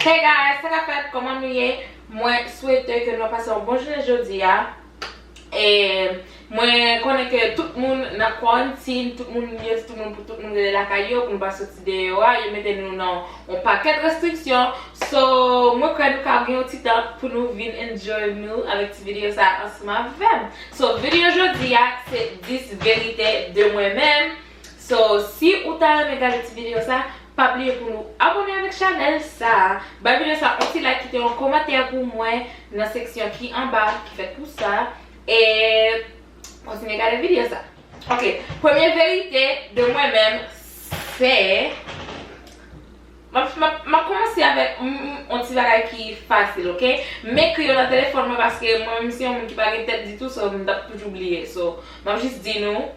Hey guys sa kap fèt kòman nou ye mwen swete ke nou ap pase yon bon jounen jodia e mwen konnen ke tout moun nan kwantin tout moun yo di tout moun pou tout moun rete lakay yo pou nou pa soti deyò a yo mete nou nan yon pakèt restriksyon so mwen kwè nou ka gen yon ti tan pou nou vin enjoy nou avèk ti videyo sa ansanm avèm so videyo jodia se 10 verite de mwen menm So si ou ta renmen gade ti video sa, pa bliye pou nou abone avèk chanèl sa, bay video sa yon ti like kite yon komantè pou mwen nan seksyon ki anba ki fèt pou sa e kontinye gade video sa. Ok premye verite de mwen menm se map map komanse avèk yon ti bagay ki fasil ok m ekri yo nan telefòn mwen paske mwen menm se yon moun ki pa gen tèt ditou so m tap toujou bliye so map jis di nou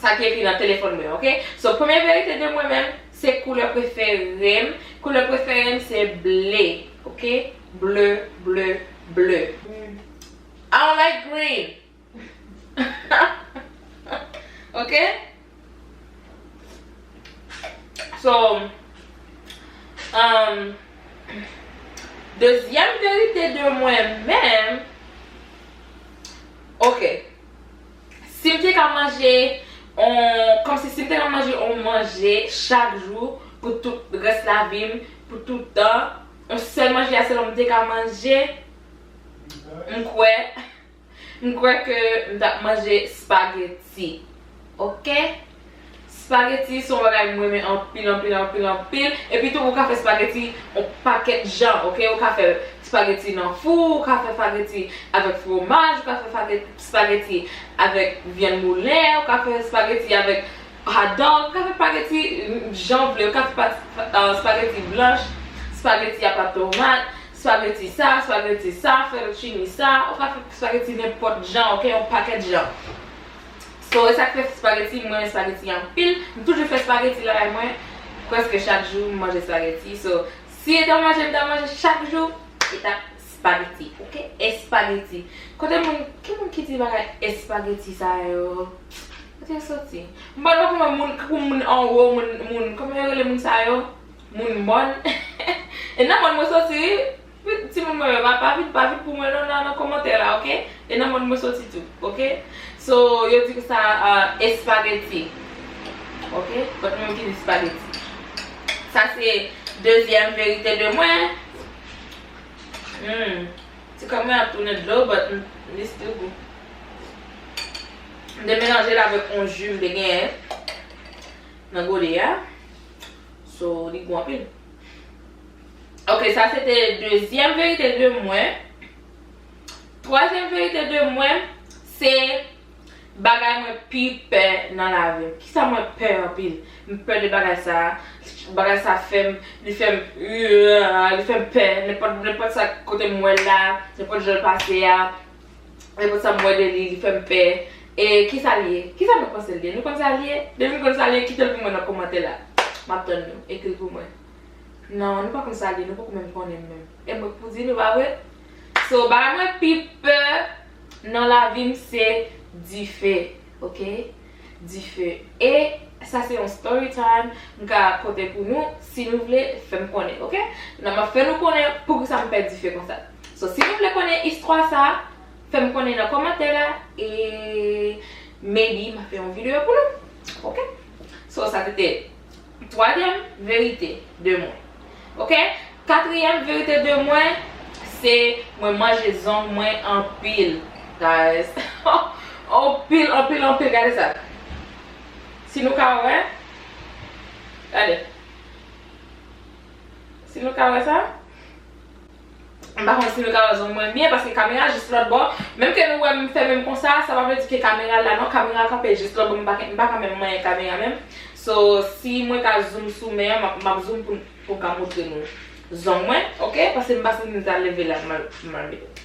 Sa ki ekri nan telefòn mwen ok so premye verite de mwen menm se koulè preferem koulè preferem se ble ok ble ble ble I don't like green ok so umm dezyèm verite de mwen menm ok. Sim te ka manje on kòmsi sim te ka manje on manje chak jou pou tout rès lavim pou tout tan on sèl manje a selman m te ka manje m kwè m kwè ke m tap manje spaghetti ok. Spaghetti son bagay m renmen anpil anpil anpil anpil epi tou ou ka fè spaghetti on pakèt jan ok ou ka fè spaghetti nan fou ou ka fè spaghetti avèk fromaj ou ka fè spaghetti avèk vyann moulen ou ka fè spaghetti avèk hot dog ou ka fè spaghetti jan ou vle ou ka fè spaghetti blanch spaghetti apa tomat spaghetti sa spaghetti sa fettuccine sa ou ka fè spaghetti nenpòt jan ok on pakèt jan. So e sak fè spaghetti m renmen spaghetti anpil m toujou fè spaghetti lakay mwen preske chak jou m manje spaghetti so si e t an manje m ta manje chak jou e tap spaghetti ok espaghetti kote moun ki moun ki di bagay espaghetti sa yo kote yo soti m pa dako nan moun tankou moun anwo moun moun kòman yo rele moun sa yo moun mòn e nan mòn mwen soti wi. Wi timoun mwen yo pa pa vin pa vin pou mwen non nan komantè la ok e nan mond mwen soti tou ok so yo di sa espageti ok but mwen ki di spageti sa se dezyèm verite de mwen humm ti kòm mwen ap tounen dlo but li still gou m te melanje l avèk on ju m te genyen nan gode a so li gou anpil. Ok sa se te dezyèm verite de mwen. Twazyèm verite de mwen se bagay mwen pi pè nan lavi m. Kisa mwen pè anpil? M pè de bagay sa a. Bagay sa a fè m, li fè m rirr, li fè m pè. Nenpòt sa kote m wè l la, nenpòt jan l pase a. E pou sa m wè de li, li fè m pè. E ki sa l ye? Ki sa nou panse l ye? Nou konn sa l ye? Depi nou konn sa l ye, kite l pou mwen nan komantè la. M ap tann nou. Ekri l pou mwen. Non, nou pa konn sa l ye. Nou poko menm konnen l menm. E mwen k pou di nou, pa vre? So, bagay mwen pi pè nan lavi m se dife. Ok? Dife e sa se yon story time m ka konte pou nou si nou vle fèm konnen ok nan map fè nou konnen poukisa m pè dife konsa so si nou vle konnen istwa sa fèm konnen nan komantè la e maybe ma fè yon video pou nou ok so sa te te Twazyèm verite de mwen ok. Katriyèm verite de mwen se mwen manje zong mwen anpil guys anpil anpil anpil gade sa si nou ka wè gade si nou ka wè sa. M pa konn si nou ka wè zong mwen byen paske kamera a jis lòtbò. Menm ke nou wè m fè men m konsa, sa pa vle di ke kamera al la non. Kamera a kanpe jis lòtbò, m pa k, m pa ka menm manyen kamera a menm. So, si mwen ka zoom sou men an, m ap, m ap zoom pou m, pou m ka montre nou zong mwen, ok? Paske m pa santi m ta leve la pou m al, pou m al met.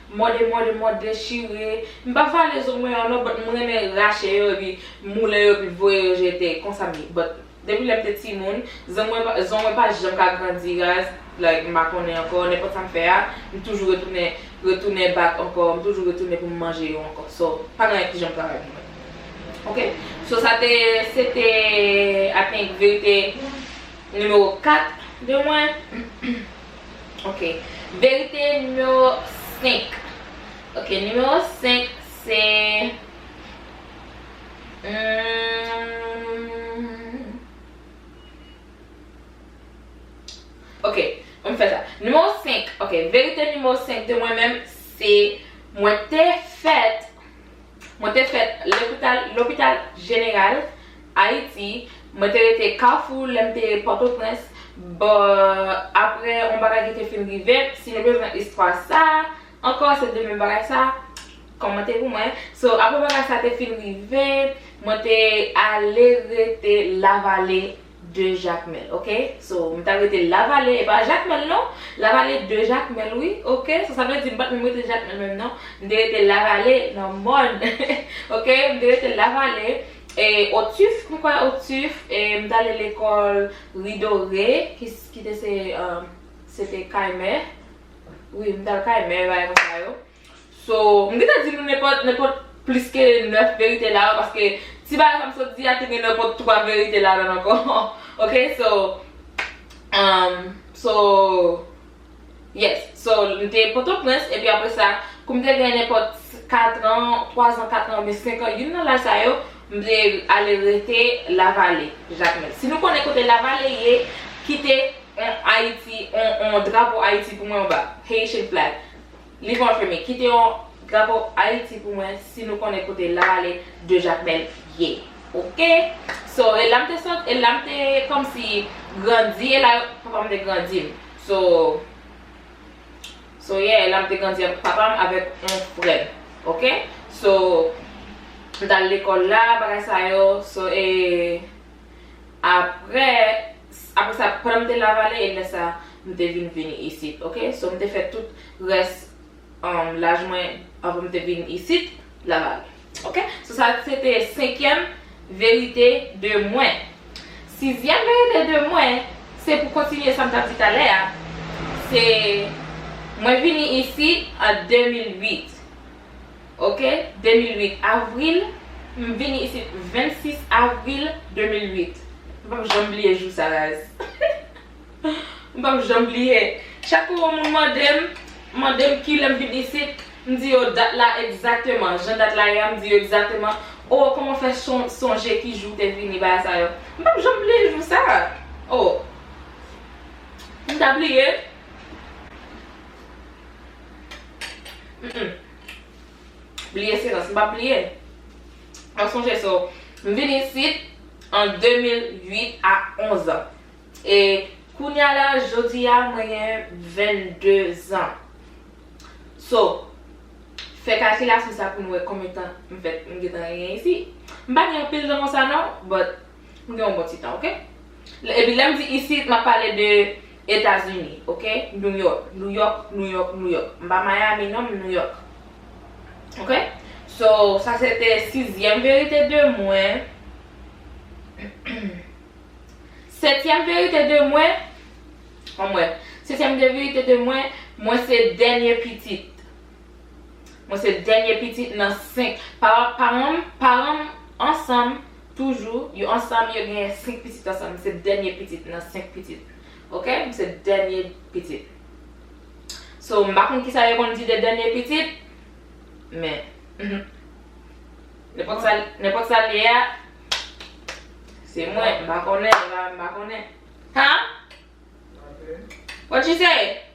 Mòde mòde mòde dechire. M pa vale zo mwen yo non but m renmen rache yo epi moulen yo epi voye yo jete. Konsa m ye. But depi lè m te timoun, zo mwen pa zo mwen pa janm ka grandi raz like m pa konnen ankò nenpòt sa m fè a m toujou retounen retounen back ankò m toujou retounen pou m manje yo ankò so pa gen anyen ki janm travay pou mwen ok so sa te se te I think verite nimewo 4 de mwen. Ok. Verite nimewo 5. Ok, nimewo 5 se Humm. Ok, an nou fè sa. Nimewo 5. Ok, verite nimewo 5 de mwen menm se mwen te fèt. Mwen te fèt lopital lopital jeneral Ayiti, mwen te rete Kafou lè m te Pòtoprens bò aprè yon bagay ki te fin rive m, si nou bezwen istwa sa ankò se demen bagay sa kòmante pou mwen, so aprè bagay sa te fin rive mwen te ale rete Lavale. 2 jacmel ok so m ta rete lavale e pa jacmel non lavale 2 jacmel wi ok so sa vle di m pat menm rete jacmel menm non m te rete lavale nan mòn ok m te rete lavale e otuf m kwè otuf e m t ale lekòl ridore ki ki te se se te kay mè wi m t al kay mè bagay konsa yo So, m gentan di nou nenpòt, nenpòt plis ke 9 verite la yo paske ti bagay sa m sot di a te gen nenpòt 3 verite ladan l ankò ok so umm so yes so m te potoprens epi apre sa kou m te gen nenpòt 4 an 3 an 4 an oubyen 5 an youn nan laj sa yo m te ale rete lavale jakmèl si nou konnen kote lavale ye kite on ayiti on on drapo ayiti pou mwen anba haitian flag. Li konfime, Kite yon drapo Ayiti pou mwen si nou konnen kote Lavalle de Jakmèl ye. Ok! So, e la m te sot, e la m te kòmsi grandi, e la yo, papa m te grandi m. So, so yeah, e la m te grandi avèk papa m avèk yon frè m. Ok? So, m t al lekòl la, bagay sa yo. So, e. Aprè Aprè sa pandan m te lavale e lè sa m te vin vini isit ok so m te fè tout rès laj mwen avan m te vin isit lavale ok so sa se te senkyèm verite de mwen sizyèm verite de mwen se pou kontinye sa m tap di talè a se mwen vini isit an 2008 Ok 2008 avril M vini isit 26 avril 2008 M pap janm bliye jou sa raz M pap janm bliye Chak kou yon moun mande m mande m kilè m vin isit m di yo dat la egzateman jan dat la ye a m di yo egzateman O kòman w fè sonje ki jou w te vini bagay sa yo M pap janm bliye jou sa O M ta bliye. Mph bliye silans m pa bliye mwen sonje so m vin isit an 2008 a 11 ans e kounya la jodi a mwen gen 22 ans so fè kalkilasyon sa pou nou wè konbyen tan m fèt m gentan genyen isi m pa gen anpil tan konsa non but m gen yon bon ti tan ok epi lèm di isit map pale de Etazini ok New York New York New York New York m pa Miami non m New York ok so sa se te sizyèm verite de mwen setyèm verite de mwen anmwey setyèm de verite de mwen mwen se dènye pitit. Mwen se dènye pitit nan 5. Paran m paran m ansanm toujou. Yo ansanm yo gen 5 pitit ansanm. M se dènye pitit nan 5 pitit. Ok? M se dènye pitit. So, m pa konn kisa yo konn di de dènye pitit, men, nenpòt sa nenpòt sa l ye a, se mwen. M pa konnen, m pa konnen. Huh? What you say?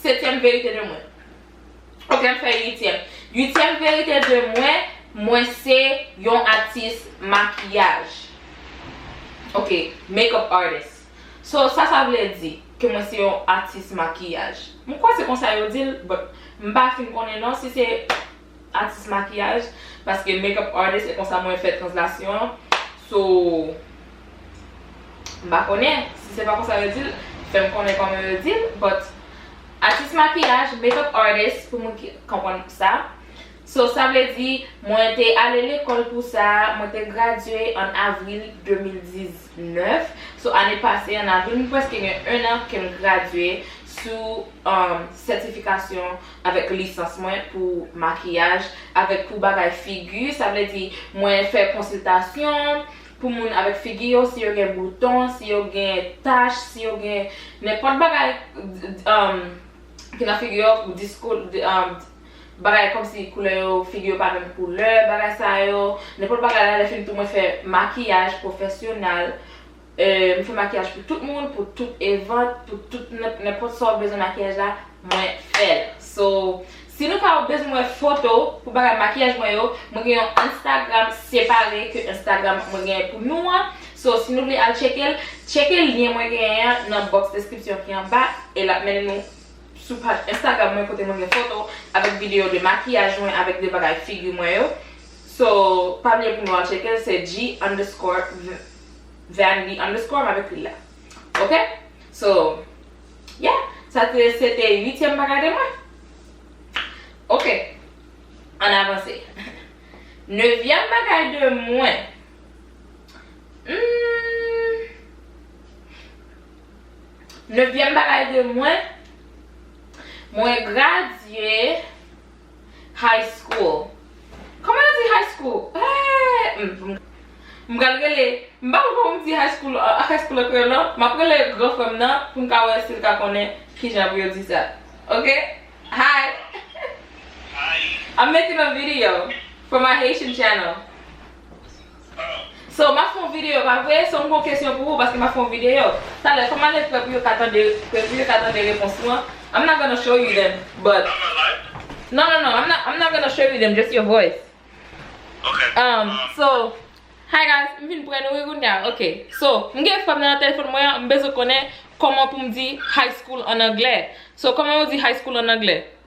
Setyèm verite de mwen. Ok m fè uityèm. Uityèm verite de mwen, mwen se yon atis makiyaj. Ok, makeup artist. So sa sa vle di? Ke mwen se yon atis makiyaj. M kwè se konsa yo di l but m pa fin konnen non si se Atis makiyaj, paske makeup artist e konsa mwen fè translasyon an so m pa konnen si se pa konsa yo di l fè m konnen kòman yo di l but atis makiyaj, makeup artist pou moun ki konprann sa so sa vle di mwen te ale lekòl pou sa mwen te gradye an avril 2018. 9, Sou ane pase, an avril, m prèske gen ennan ke m gradye sou sètifikasyon avèk lisans mwen pou makiyaj avèk pou bagay figi, sa vle di mwen fè konsiltasyon pou moun avèk figi yo, si yo gen bouton, si yo gen tach, si yo gen nenpòt bagay ki nan figi yo, disko. bagay kòmsi koulè yo figi yo pa menm koulè bagay sa yo nenpòt bagay la lè fini tou mwen fè makiyaj pwofesyonal m fè makiyaj pou tout moun pou tout event pou tout nenpòt sa ou bezwen makiyaj la mwen fèl so si nou ta bezwen wè foto pou bagay makiyaj mwen yo mwen gen yon enstagram separe ke enstagram mwen gen pou nou an so si nou vle al tcheke l tcheke lyen mwen gen an nan box description ki anba e lap mennen nou. sou paj Instagram mwen kote mwen gen foto avèk video de makiyaj mwen avèk de bagay figi mwen yo so pa bliye pou nou al tcheke l se G underscore Vandy underscore m ap ekri l la ok so yeah sa te se te uityèm bagay de mwen ok ann avanse nevyèm bagay de mwen humm. Nevyèm bagay de mwen, mwen gradye high school. Kòman yo di high school? Eeeeh! M pral rele, m pa konn kòman m di high school an kreyòl non. M ap rele gran frè m nan pou m ka wè si l ka konnen kijan pou yo di sa. Ok! Hi! Hi! I'm making a video for my Haitian channel. So map fè yon video pa vre? So m gon kesyon pou ou paske map fè yon video talè fòm ale prè pou yo ka tande prè pou yo ka tande repons ou an I'm not gonna show you them but Not my life? Non non non I'm not I'm not gonna show you them just your voice Ok Um so Hi guys m vin prè nou wi kounya ok so m gen fòm nan nan telefòn mwen an m bezwen konnen kòman pou m di high school an anglè so kòman yo di high school an anglè?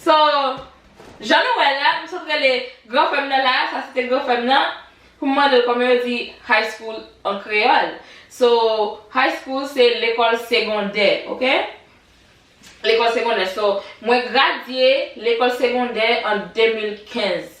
So Jan nou wèl la m sot rele gran frèm nan la sa se te gran frèm nan poum mandel kòman yo di high school an kreyòl so high school se lekòl segondè ok lekòl segondè so mwen gradye lekòl segondè an 2015.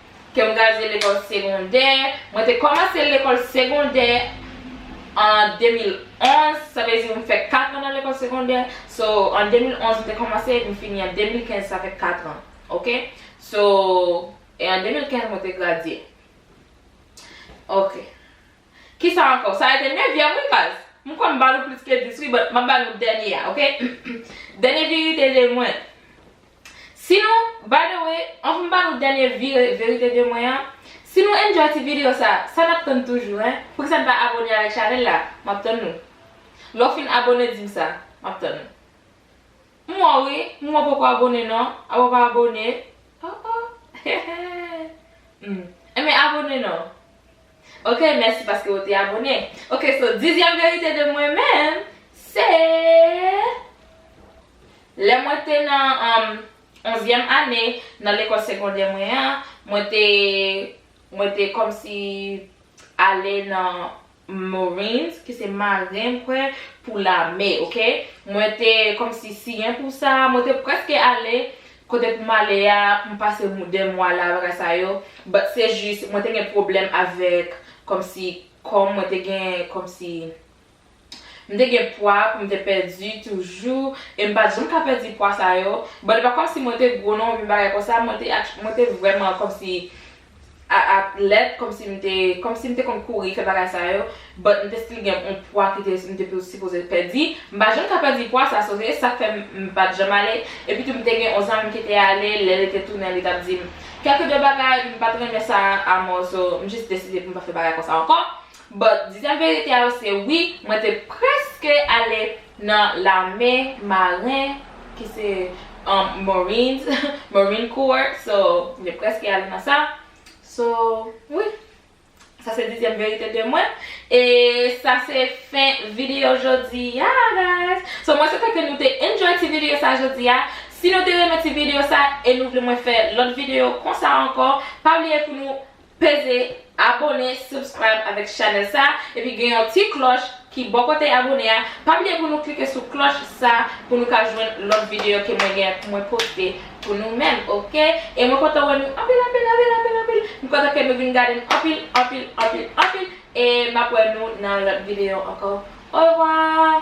ke m gradye lekòl segondè. Mwen te kòmanse lekòl segondè an 2011, sa vle di m fè 4 an nan lekòl segondè. So, an 2011 m te kòmanse e m fini an 2015, sa fè 4 an. Ok? So, e an 2015 mwen te gradye. Ok. Kisa ankò? Sa rete nevyèm wi baz. M kwè m ba nou plis ke 10 wi, but m ap ba nou dènye a, ok? Dènye verite de mwen. Si nou, by the way, anvn m ba nou dènye vire verite de mwen an, si nou enjoy ti video sa, sa nap tann toujou hein, poukisa n pa abone avèk chanèl la, map tann nou. Lè w fin abone di m sa, map tann ou. M wè w wi, m wè w poko abone non, apa w pa abone, oh oh, heheh, humm, enben abone non. Ok mèsi paske ou te abone. Ok so dizyèm verite de mwen menm se lè mwen te nan onzyèm ane nan lekòl segondè mwen an mwen te mwen te kòmsi ale nan marines ki se maren m kwè pou lame ok mwen te kòmsi siyen pou sa mwen te prèske ale Kote pou m ale a, m pase m 2 mwa la bagay sa yo, but se jis mwen te gen pwoblèm avèk kòmsi kò m mwen te gen kòmsi m te gen pwa pou m te pèdi toujou e m pat janm ka pèdi pwa sa yo, but e pa kòmsi mwen te gwo non oubyen bagay konsa mwen te mwen te vrèman kòmsi a ak lèt kòmsi m te kòmsi m te konn kouri fè bagay sa yo but m te still gen on pwa ki te m te sipoze pèdi m pa janm ka pèdi pwa sa so se sak fè m pat janm ale epitou m te gen on zanmi m ki te ale lè li te tounen li tap di m kèlke de bagay m pat renmen sa amò so m jis deside pou m pa fè bagay konsa ankò. But di sa verite a yo se wi mwen te preske ale nan lame marin ki se marines marine corps so mwen te preske ale nan sa so wi sa se dezyèm verite de mwen e sa se fen video jodi a guys so mwen swete ke nou te enjoy ti video sa jodi a si nou te renmen ti video sa e nou vle mwen fè lòt video konsa ankò pa bliye pou nou Peze abone, subscribe avèk chanèl sa, epi gen yon ti klòch ki bò kote abone a, pa bliye pou nou klike sou klòch sa pou nou ka jwenn lòt videyo ke mwen gen pou mwen poste pou nou menm ok, e mwen kontan wè nou anpil anpil anpil anpil anpil, m kontan ke nou vin gade m anpil anpil anpil anpil, e map wè nou nan lòt videyo ankò orevwa.